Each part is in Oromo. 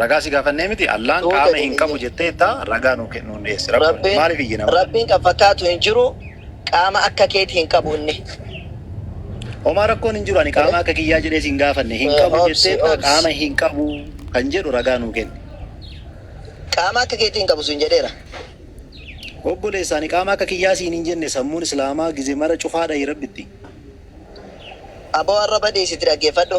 Ragaa si gaafannee miti Allaahn Tuute qaama hin hin qabu iyyin. jetteetta ragaa nuu ke- nuun dhiyeessi rakkoon Rabbiin, maaliif iyyina malee. Rabbiin kan fakkaatu hin jiru, qaama akka keeti hin qabu inni. Homaa rakkoon hin jiru ani qaama akka kiyyaa jedhee si hin gaafanne hin qabu Obsi, jetteetta obsi. qaama hin qabu kan jedhu ragaa nuu kenni. Qaama akka keeti hin qabu siin jedheera. Obboleessa ani qaama akka kiyyaa siin hin jenne sammuun islaamaa gize mara cufaadha rabbitti. Aboo arraba dhiisiti dhaggeeffadhu.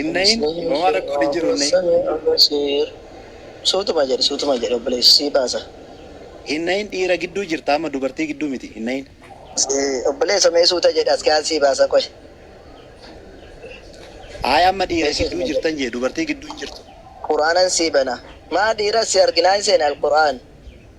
Inna in homaa rakkoon hin jiru inna in. Sami Abasir. Suutuma jedhi suutuma jedhi obboleessi sii baasa. Inna in dhiira gidduu jirta amma dubartii gidduu miti inna in. Obboleessa mee suuta jedhi askiyaan sii baasa qoy. Ayi amma dhiira gidduu jirtan jee dubartii gidduu hin jirtu. Qur'aanan sii bana. Maa dhiira si arginaa hin seene alqur'aan.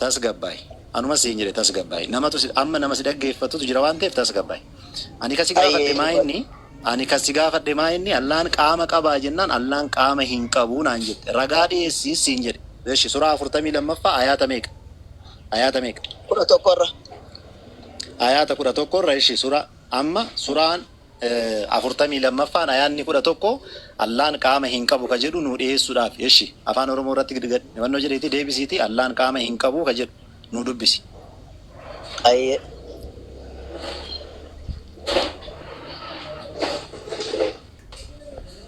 tasgabbaa'i. Anuma siin jedhe tasgabbaa'i. Namatu si- amma nama si dhaggeeffatutu jira waan ta'eef tasgabbaa'i. Ani kan si Ayyee gaafadhe maa dhugaa inni ani kan si gaafadhe maa inni Allaan qaama qabaa jennaan Allaan qaama hin qabu naan jette. Ragaa dhiyeessi siin jedhe. Eshi suraa afurtamii lammaffaa ayaata meeqa? Ayaata meeqa? kudha tokkorra Ayaata kudha tokkorra eshi sura amma suraan 42ffaan Ayaanni 11 Allaan qaama hin qabu ka jedhu nuu dhiheessuudhaafi. Eshi, Afaan Oromoo irratti gad fannoo jedhiitii deebisiitii Allaan qaama hin qabu ka jedhu nuu dubbisi. Hayyee.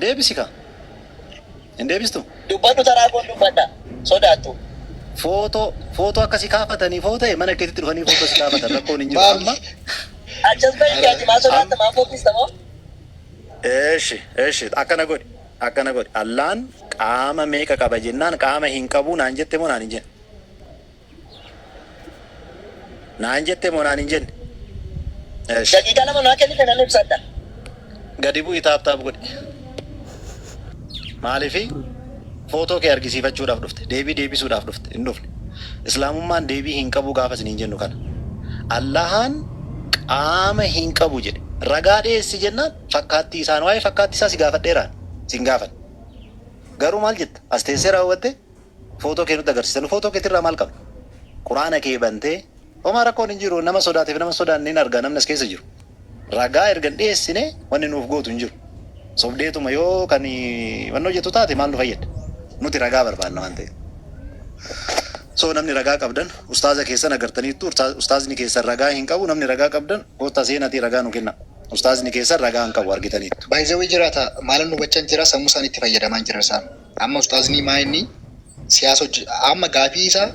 Deebisi kaa. Hin deebistu? Dubbadhu taraa koon dubbadha. Sodaattu. Footoo footoo akka si kaafatanii foo ta'e mana keetitti dhufanii footoo si kaafatan rakkoon hin jiru Maal? amma Achas bahi ati ati maa sodaatta maa fokkista moo? Eeshi eeshi akkana godhi akkana godhi Allaan qaama meeqa qaba jennaan qaama hin qabu naan jette moo naan hin jenne? Naan jette moo naan hin jenne? Esh. Daqiiqaa lama naa kennite nan ibsadha. Gadi bu'i taap taap godhi. Maalifi footoo kee argisiifachuudhaaf dhufte? Deebii deebisuudhaaf dhufte? Hin dhufne. Islaamummaan deebii hin qabu gaafa isiniin jennu kana. Allahaan qaama hin qabu jedhe. Ragaa dhiyeessi jennaan fakkaattii isaan waa'ee fakkaattii isaa si gaafadheeraan sin gaafanne. Garuu maal jetta? As teessee raawwattee? Footoo kee nutti agarsiisa. Nu footoo keetirraa maal qabna? Qur'aana kee bantee Homaa rakkoon hin jiru. Nama sodaatee fi nama hin sodaanne hin arga namni as keessa jiru. Ragaa erga hin dhiyeessine wanni nuuf gootu hin jiru. Sobdeetuma yoo kan wannoo jettu taate maal nu fayyadda? Nuti ragaa barbaanna waan ta'eef. So namni ragaa qabdan ustaaza keessan agartaniittu urtaa- ustaazni keessan ragaa hin qabu namni ragaa qabdan koottaa seenatii ragaa nu kenna. Ustaazni keessan ragaa hin qabu argitaniittu. By the way jiraata maalan hubachan jira sammu isaanitti fayyadamaan jira isaan. Amma ustaaznii maa inni siyaasa hojje amma gaafii isaa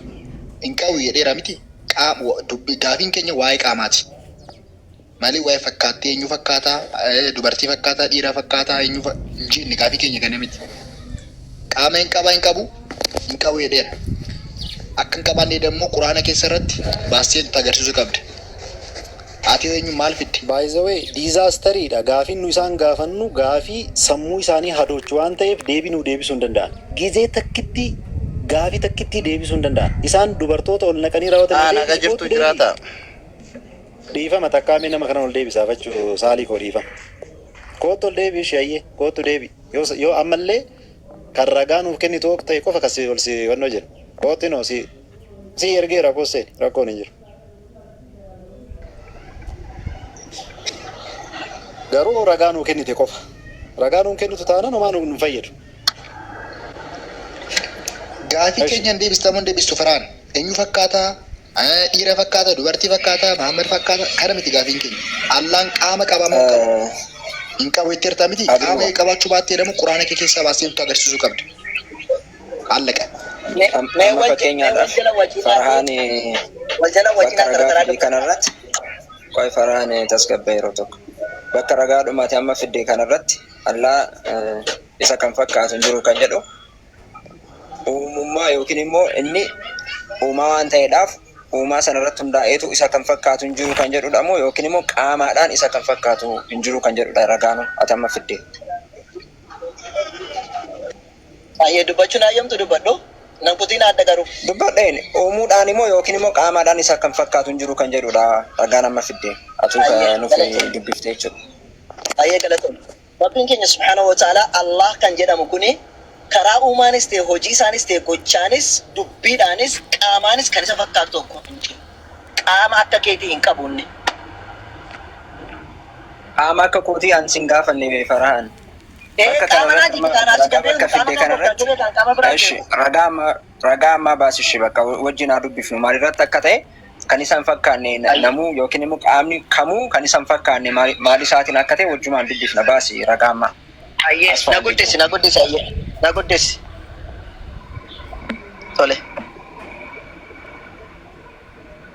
hin qabu jedheera miti qaam dubbi gaafiin keenya waa'ee qaamaati malee waa'ee fakkaattii eenyu fakkaataa eh, dubartii fakkaataa dhiira fakkaataa eenyu fa- hin jenne gaafii keenya kana miti qaama hin qaba hin qabu hin qabu jedheera akka hin qabaanne dammoo quraana keessa irratti baastee nutti agarsiisu qabda Ati eenyu maal fidde? By the way disaster dha gaafiin nu isaan gaafannu gaafii sammuu isaanii hadoochu waan ta'eef deebii nuu deebisuu hin danda'an. Gizee takkitti gaafii takkittii deebisuu hin danda'an. Isaan dubartoota ol naqanii raawwatan Haa naga adeemsi jirtuu koottu deebi'i. jiraataa. Dhiifama takkaa mee nama kanan ol deebisa afachu saalii koo dhiifama. Koottu ol deebi'i ishee hayyee koottu deebi'i yoo sa- yoo ammallee kan ragaa nuuf kennitu ok ta'e qofa kan si ol si wannoo jenna. Koottu inoo si si ergeera koos seeni rakkoon hin jiru. Garuu ragaa nuu kennite qofa. Ragaa nuun kennitu taanaan homaa nu hin fayyadu. Gaafii Esh. keenyan deebista moo hin deebistu Farhaan? Eenyu fakkaata? Eh, Dhiira fakkaata, dubartii fakkaata, Mahammad fakkaata. Kana miti gaafiin keenya. Allaan qaama qabaa moo hin qabu? Eh, Hin qabu jetteerta miti? Qaama Abdullah. qabaachuu baatte jedhamu Quraana kee keessaa baastee nutti agarsiisuu qabda. Allaqe. Amma fakkeenyaadhaaf Farhaan bakka ragaa fide kanarratti qoy Farhaan tasgabba'i yeroo tokko. Bakka ragaadhuma ati amma fidde kanarratti Allaa isa kan fakkaatu hin jiru kan jedhu uumummaa yookinimmoo inni uumaa waan ta'eedhaaf uumaa sanarratti hundaa'eetu isa kan fakkaatu hin jiru kan jedhudhamoo yookinimmoo qaamaadhaan isa kan fakkaatu hin jiru kan jedhudha ragaanuu ati amma fidde. Hayyee dubbachuun hayyamtu dubbadhu. Nan kutiin haadha garuu. Dubbadheen, uumuudhaan moo yookiin immoo qaamaadhaan isa kan fakkaatu hin jiru kan jedhu dha ragaan amma fidde. Atuu ka Hayyee nuuf galatoomi. dubbifte jechuu dha. Hayyee galatoomi. Rabbiin keenya subhaanahu wa ta'aalaa Allaah kan jedhamu kuni karaa uumaanis ta'e hojii isaanis ta'e gochaanis dubbiidhaanis qaamaanis kan isa fakkaatu tokko hin jiru. Qaama akka keetii hin qabu inni. Qaama akka kootii an sin gaafanne mee Farahan. Bakka kanarratti amma ragaa bakka fidde kanarratti eshi ragaa amma ragaa ammaa baasishi bakka wajjin haa dubbifnu maalirratti akka ta'e kan isa hin fakkaanne na- namuu yookiin immoo qaamni kamuu kan isa hin fakkaanne maal- maal isaatiin akka ta'e wajjumaan dubbifna baasi ragaa ammaa. Ayyee As na fa'aa guddisi jechuudha. na guddisi ayyee na guddisi. Tole.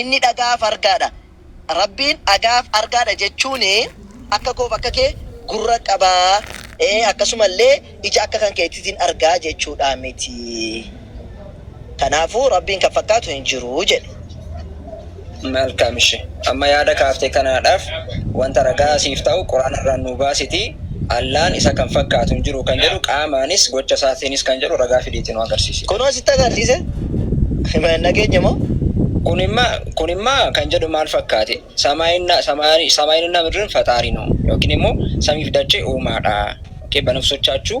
Inni dhaga'aa fi argaa dha. Rabbiin dhaga'aa fi argaa dha jechuun akka koo fi akka kee gurra qaba, akkasuma illee ija akka kan keetiitiin arga jechuu dhaa miti. Kanaafuu Rabbiin kan fakkaatu hin jiru jedhe. Malkam ishi amma yaada kaafte kanaadhaaf wanta ragaa siif ta'u qur'aana irraa nuu baasitii Allaan isa kan fakkaatu hin jiru kan jedhu qaamaanis gocha isaatiinis kan jedhu ragaa fidiitii nu agarsiisi. Kunoo sitti agarsiise. Hin dhageenye moo? Kunimma kunimma kan jedhu maal fakkaate? Samaayinna samaayinna midrin faxaari noo yookiin immoo samiif dachee uumaadha. Okay banafsochaachuu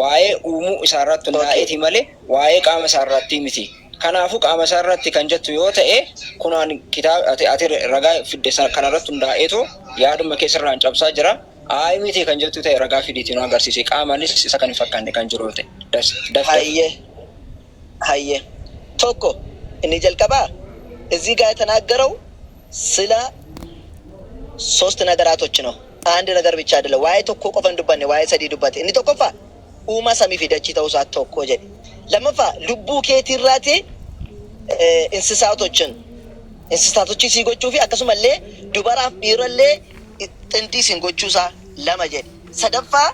waa'ee uumuu isaarratti hundaa'eeti malee waa'ee qaama isaarratti miti. Kanaafuu qaama isaarratti kan jettu yoo ta'e kunoo ani kitaaba ati, ati ragaa fidde sana kanarratti hundaa'eetu yaaduma kee sirraan cabsaa jira. Ayi miti kan jettu ta'e ragaa fidiitii nu agarsiisi. Qaamaanis isa kan hin fakkaanne kan jiru yoo ta'e. Das, Daftar. Hayyee. Hayyee. Tokko, inni jalqabaa, Ezzii gaa yetanaaggarau sila sost nagaraatoch no. Aand nagar bichaa adela. Waa'ee tokkoo qofa hin dubbanne, waa'ee sadii dubbate. Inni tokkoffaa, Uumaa samii fi dachii ta'uu isaa tokko jedhe. Lammaffaa, lubbuu keetii irraati insisaatochin, insisaatochii sii gochuu fi akkasuma illee dubaraaf dhiira illee xindii isin gochuu isaa lama jedhe. Sadaffaa,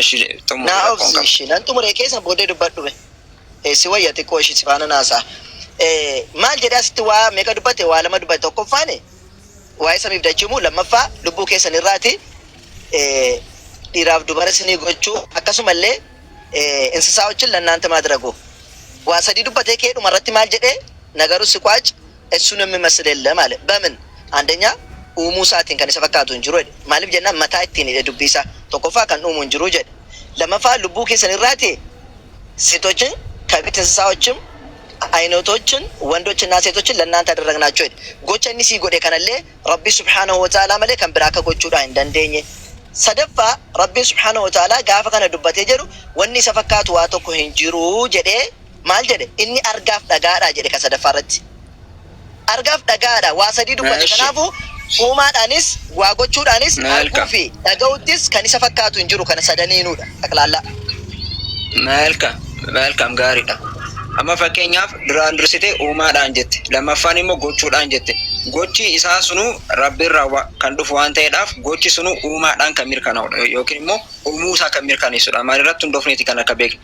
Eshi xumuri Naa rakkoon obsi qaba. ishi nan xumure keessa booddee dubbadhu me. Eh, si wayya xiqqoo ishi si faana naasa'a. Eh, maal jedhee asitti waa meeqa dubbate waa lama dubbate tokkoffaan waa'ee samiif dachii uumuu lammaffaa lubbuu keessan irraati eh, dhiiraaf dubara isinii gochuu akkasuma illee eh, insisaawochin lannaanta maadiragu waa sadii dubbatee kee dhuma irratti maal jedhee nagaruu si qwaac Esuun namni masl ellam aale. Bamin? Andanya uumuu isaatiin kan isa fakkaatu hin jiru jedhe. Maalif jennaan mataa ittiin hidhe dubbii isaa. Tokkoffaa kan dhuumu hin jiru jedhe. Lamaffaa lubbuu keessan irraati setochin kabit insisaochim ayinotochin wandochin na setochin lannanta adaragnaachoo jedhe. Gocha inni sii godhe kanallee Rabbii subhaanahu wa ta'aalaa malee kan biraa akka gochuudhaa hin dandeenye. Sadaffaa Rabbiin subhaanahu wa ta'aalaa gaafa kana dubbatee jedhu wanni isa fakkaatu waa tokko hin jiru jedhee. maal jedhe? Inni argaaf dhaga'aadha jedhe kan sadaffaa irratti. Argaaf dhaga'aadha waa sadii dubbate. Eshi. Kanaafuu uumaadhaanis, waa gochuudhaanis, Maal arguu ka? fi dhaga'uuttis kan isa fakkaatu hin jiru kana sadaniinuudha. Xaqlaallaa. Malcam, Malcam gaariidha. Amma fakkeenyaaf duraan dursitee uumaadhaan jette. Lammaffaan immoo gochuudhaan jette. Gochi isaa sunuu Rabbirraa wa- kan dhufu waan ta'eedhaaf gochi sunuu uumaadhaan kan mirkanaa'udha yookiin immoo uumuu isaa kan mirkaneessudha. Maalirratti hundoofneeti kan akka beeknu?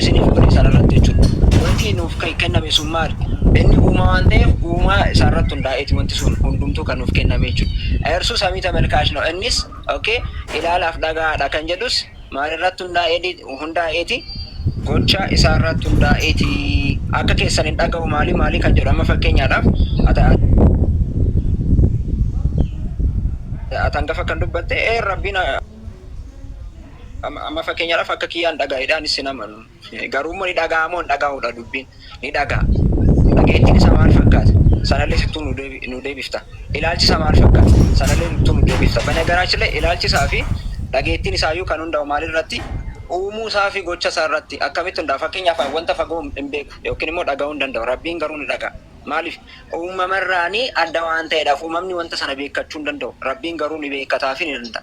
isiniif godhe sana irratti jechuudha. Wanti nuuf kan kenname sun maali? Inni uumaa waan ta'eef uumaa isaa irratti hundaa'eeti wanti sun hundumtuu kan nuuf kenname jechuudha. Eersu samii tamelkaash ነው innis okay ilaalaaf dhagaadha kan jedhus maal irratti hundaa'eeti hundaa'eeti gocha isaa irratti hundaa'eeti akka keessan hin dhaga'u maali maali kan jedhu amma fakkeenyaadhaaf ata atan gafa kan dubbatte ee rabbiin Amma amma fakkeenyaadhaaf akka kiyyaan dhagaa'edha anis sin amanu. Garuu immoo ni dhaga'a moo hin dhaga'udha dubbiin ni dhaga'a. Dhageettiin isaa maal fakkaata? Sanallee sittuu nu deebi- nu deebifta. Ilaalchi isaa maal fakkaata? Sanallee sittuu nu deebifta. Banagaraachin illee ilaalchi isaa fi dhageettiin isaa iyyuu kan hundaa'u maal irratti? Uumuu isaa fi gocha isaa irratti akkamitti hundaa'a? Fakkeenyaaf ani wanta fagoo hin beeku yookiin immoo dhaga'uu hin danda'u. Rabbiin garuu ni dhaga'a. Maaliif? Uumama irraanii adda waan ta'eedhaaf uumamni wanta sana beekkachuu hin danda'u. Rabbiin garuu ni beekkataa fi ni danda'a.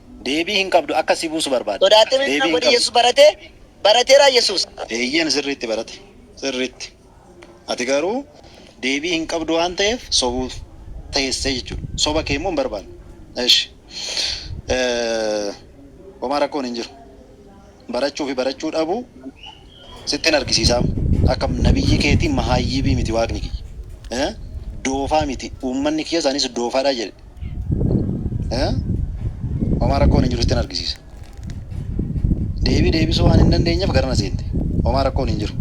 Deebii hin qabdu akka si buusu barbaadde. Sodaattee miti Deebii kana hin godhi qabdu. Yesuus barate barateeraa Yesuus. Eeyyen sirriitti barate sirriitti ati garuu deebii hin qabdu waan ta'eef sobuuf teessee jechuudha soba kee immoo hin barbaanne eshi homaa rakkoon hin jiru. barachuu fi barachuu dhabuu sittin argisiisaa amma. Akka nabiyyii keetii mahaayyiibii miti waaqni kiyya. Doofaa miti uummanni kiyyas anis doofaadha jedhe. Homaa rakkoon hin jiru sittin argisiisa. Deebii deebisuu waan hin dandeenyeef garana seente. Homaa rakkoon hin jiru.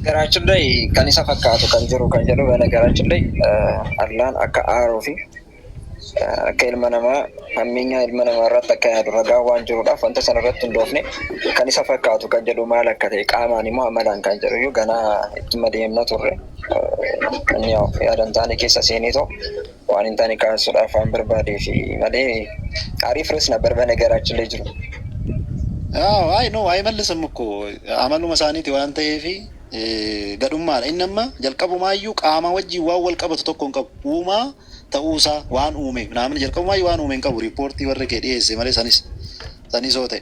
Garaachullee kan isa fakkaatu kan jiru kan jedhu bana garaachullee Allaan akka aaruu fi akka ilma namaa hammeenyaa ilma namaa irratti akka yaadu ragaa waan jiruudhaaf wanta sana irratti hundoofne kan isa fakkaatu kan jedhu maal akka ta'e qaamaan immoo amalaan kan jedhu iyyuu ganaa ittuma deemna turre. Inni yaada hin taane keessa seenee too Waan hin taane kaasuudhaaf waan barbaadeef malee aarii furus hin barbaanne gara achillee jiru. Aw, ay no ay mallisam ukko amaluma isaaniiti waan ta'eef gadhummaadha inni amma jalqabumaayyuu qaamaa wajjin waan wal qabatu tokko hin qabu uumaa ta'uusaa waan uume naamni jalqabumaayyuu waan uume hin qabu riippoortii warri kee dhiyeesse malee sanis sanis yoo ta'e